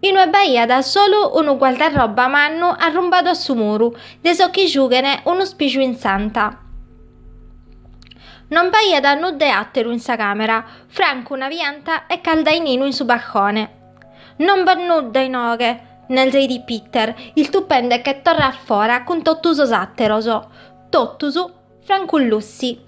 Inue b'aiat solu unu guardarroba mannu arrumbadu a su muru, de sos chi giughene unu spiju in s'anta. Non b'aiat nudda 'e àteru in sa càmera, francu una pianta 'e caldaininu in su balcone. Non b'at nudda inoghe, nerzeit Peter, istupende che torra a fora cun totu sos àteros. Totus, francu Lucy.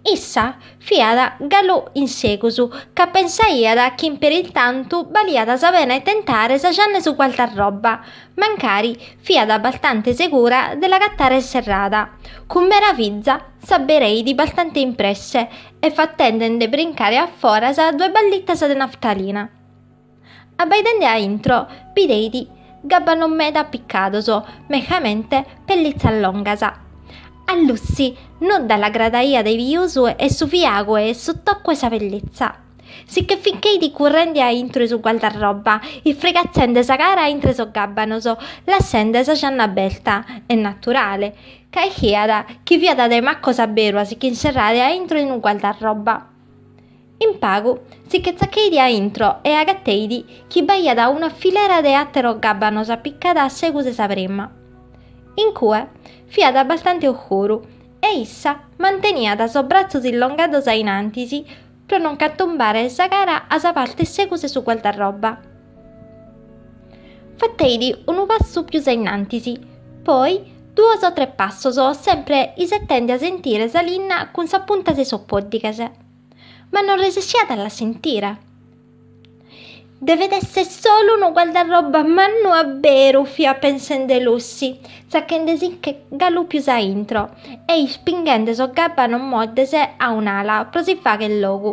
Issa fiat galu in segus ca pensaiat chi in peristantu baliat sa pena 'e tentare sa gianna 'e su guardarroba, mancari fiat bastante segura de l'agatare serrada, cun meraviza s'abereidi bastante in presse e fatende nde brincare a foras duas ballitas de naftalina. Abbaidende a intro, bideit gabbanos meda appicados, mejamente pellitzas longas. A Lucy nudda l'agradaiat de pius 'e su fiagu e su tocu 'e sa pellitza. Si che fincheit currende a intro 'e su guardarroba, isfregatzende sa cara a intre sos gabbanos, lassende sa gianna aberta, est naturale, ca ischiat chi fiat de macos a beru a si ch'inserrare a intro in unu guardarroba. In pagu si che tzacheidi a intro e agateidi chi b'aiat una filera de àteros gabbanos apicada a segus 'e sa prima. In cue fiat abbastante oscuru e issa manteniat sos bratzos illongados a innantis pro non cantombare sa cara a sa parte 'e segus 'e su guardarroba. Fateidi unu passu pius a innantis, poi duos o tres passos sempre isetende a sentire sa linna cun sa punta de sos poddighes. Ma non resessiat a la sentire. Devet esser solu unu guardarrobba mannu a beru fiat pensende Lucy, tzachende si che galu pius a intro e ispinghende sos gabbanos moddes a un'ala pro si fagher logu.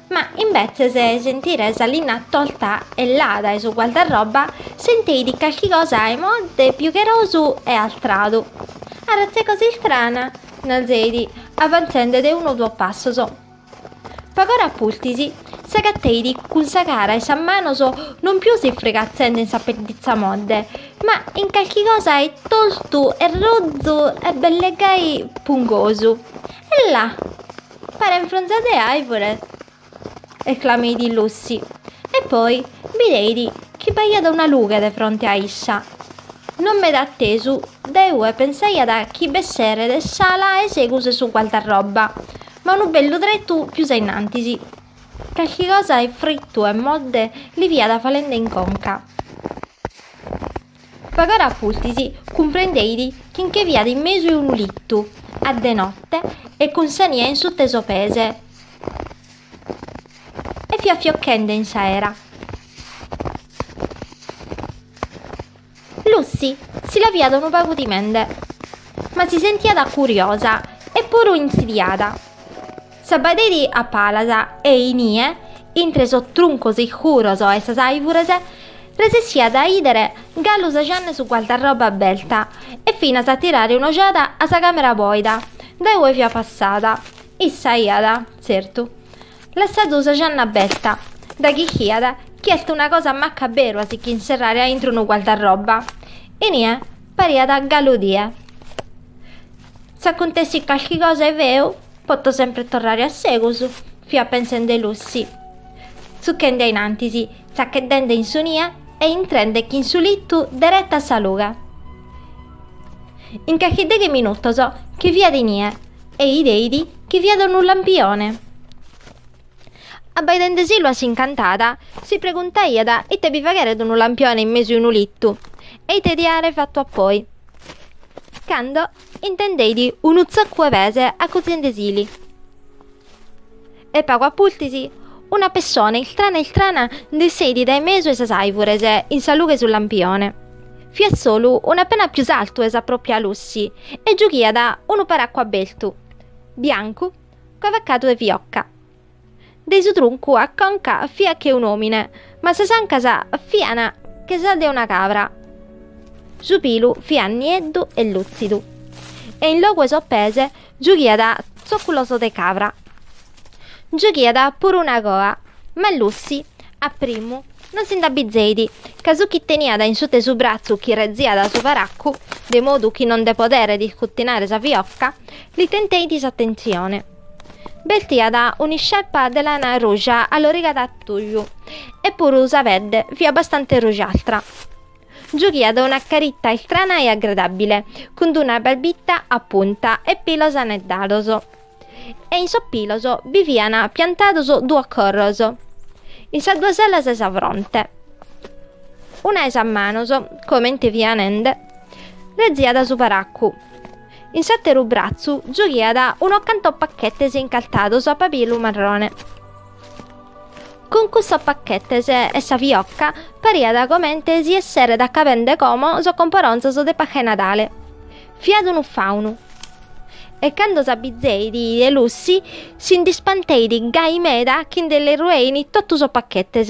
Ma imbetzes 'e sentire sa linna tosta e lada 'e su guardarroba, senteit calchi cosa 'e modde, piugherosu e astradu. Arratz'e cosa istrana! narzeit, avantzende de unu o duos passos. Pag'ora a pustis, s'agateit cun sa cara e sas manos non pius isfrigatzende in sa pedditza modde, ma in calchi cosa 'e tostu e rozu e belle gai pungosu. E là! Paren fronzas de àivore! esclameit Lucy, e poi bideit chi b'aiat una lughe de fronte a issa. Non meda attesu, dae ue pensaiat chi b'esseret s'ala 'e segus 'e su guardarrobba, ma unu bellu tretu pius a innantis. Calchi cosa 'e frittu e modde li fiat falende in conca. Pag'ora a pustis, cumprendeit chi nche fiat in mesu 'e unu litu, a de note, e cun sa nie in sut'e sos pese, e fiat fiochende in s'aera. Lucy si la fiat unu pagu timende, ma si sentiat curiosa e puru intzidiada. S'abbaideit a palas e inie, intre sos truncos iscuros 'e sas àivures, resessiat a 'idere galu sa janna 'e su guardarroba aberta e finas a tirare un'ojada a sa càmera bòida dae ue fiat passada. Issa iat, tzertu, lassadu sa janna aberta, daghi ischiat chi est una cosa macca beru a si ch'inserrare a intro unu guardarroba. Inie pariat galu die. S'acuntessit calchi cosa 'e feu, poto sempre torrare a segus, fiat pensende Lucy, tzuchende a in antis, tzachedende in su nie e intrendech'in su litu dereta a sa lughe. In calchi deghe minutos che fiat inie e 'ideit chi fiat unu lampione. Abbaidendeselu a s'incantada, si preguntaiat ite bi fagheret unu lampione in mesu 'e unu litu e ite diat àere fatu appoi. Cando intendeit unu tzocu 'e pese acortziendesili e pagu a pustis una pessone iltrana iltrana nd'esseit dae mesu 'e sas àivures in sa lughe 'e su lampione. Fiat solu un'apena pius artu 'e sa pròpia Lucy e giughiat unu paraccu abertu, biancu, cavacadu 'e fiocca. De su truncu a conca fiat che un'omine, ma sas ancas fiana che sas de una cabra. Su pilu fiat nieddu e lutzidu, e in logu 'e sos pese giughiat zocculos de cabra. Giughiat puru una coa, ma Lucy, a primu, non si nd'abbizeit, ca su chi teniat in sut'e su bratzu chi reziat su paraccu, de modu chi non nde poderet iscuttinare sa fiocca, li tenteit s'attentzione. Bestiat un'iscieppa de lana ruja allorigada a tuju e puru sa pedde fiat bastante rujaltra. Giughiat una caritta istrana e agredabile, cun d'una barbitta a punta e pilos aneddados. E in sos pilos bi fian piantados duos corros, in sas duas alas 'e sa fronte. Una 'e sas manos, comente fia nende, reziat su paraccu. In s'àteru bratzu giughiat unos cantos pachetes incartados a pabilu marrone. Cun cussos pachetes e sa fiocca pariat comente si esseret acabende como sos comporonzos de Pasca 'e Nadale. Fiat unu faunu. E cando s'abbizeit de Lucy si nd'ispanteit gai meda chi nde li ruein totu sos pachetes.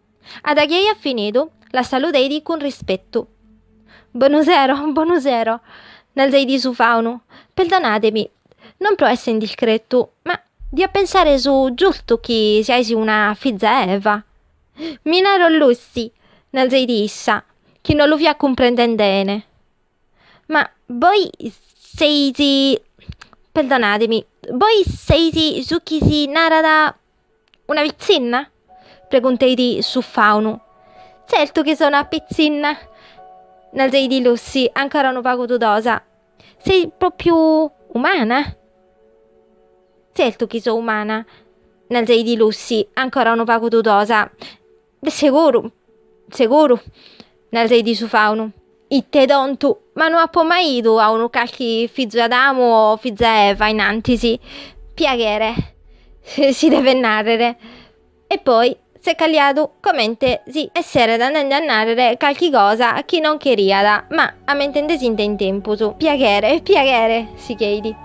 A da chi eiat finidu, la saludeidi cun rispetu. Bonu sero, bonu sero, narzeidi su faunu, perdonademi, non pro essere indiscretu, ma dia pensare su giustu chi siais una fiza 'e Eva. Mi naro Lucy, narzeidi issa, chi non lu fiat cumprendende 'ene. Ma bois seis, perdonademi, bois seis su chi si narat una pitzinna? pregunteit su faunu. Tzertu chi so una pitzinna, narzeit Lucy ancora unu pagu dudosa. Seis propriu umana? Tzertu chi so umana, narzeit Lucy ancora unu pagu dudosa. Seguru, seguru, narzeit su faunu, ite tontu, ma no apo mai idu a unu calchi fizu 'e Adamu o fiza 'e Eva in antis, piaghere, si devet nàrrere, e poi s'est calliadu comente si esseret andende a nàrrere calchi cosa chi non cheriat, ma ammentendesinde in tempus, piaghere, piaghere, sigheit.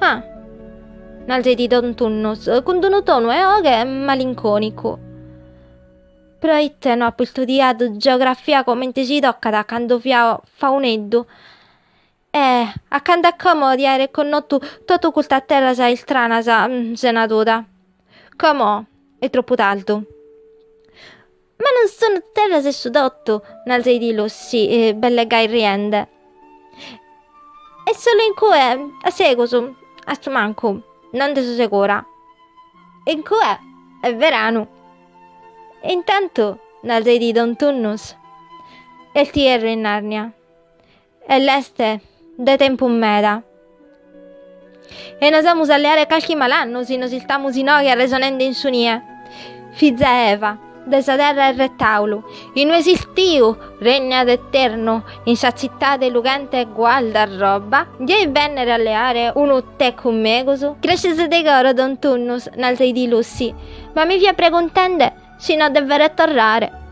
Ah! narzeit don Tunnus, cun d'unu tonu 'e 'oghe malincònicu. Proite no apo istudiadu geografia comente si tocat a cando fia fauneddu e a cando a como dia aere connotu totu custas terras istranas sena duda? Como est tropu tardu. Ma non sono terras 'e su totu, narzeit Lucy, belle gai riende. Est solu in cue, a segus, astumancu, no nde so segura. In cue est veranu. E intantu, narzeit don Tunnus, est ierru in Narnia. E l'est de tempus meda. E nos amus a leare calchi malannu si nos istamus inoghe arresonende in su nie. Fiza 'e Eva, de sa terra 'e Retàulu, in ue s'istiu regnat eternu, in sa tzitade lughente 'e Gualda Roba, dieis bènnere a leare unu te cun megus? Gràscias de coro don Tunnus, narzeit Lucy, ma mi fia preguntende Si no devere torrare.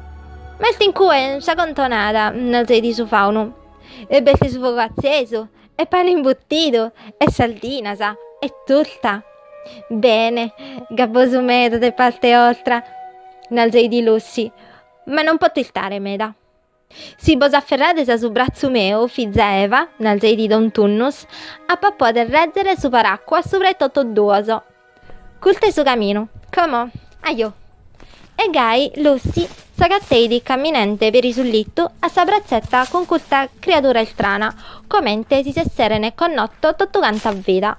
M'est in cue sa contonada, narzeit su faunu, e b'est su fogu atzesu, e pane imbuttidu, e sardinas, e turta. Bene, gabbosu meda de parte 'ostra, narzeit Lucy, ma non poto istare meda. Si bos aferrades a su bratzu meu, fiza 'e Eva, narzeidi don Tunnus, apo a poder rèzere su paràcua subra 'e totos duos. Custu est su caminu. Como? Ajò! E gai Lucy s'agateidi caminende peri su litu a sa bratzeta cun custa criadura istrana, comente si s'esserene connotos totuganta vida.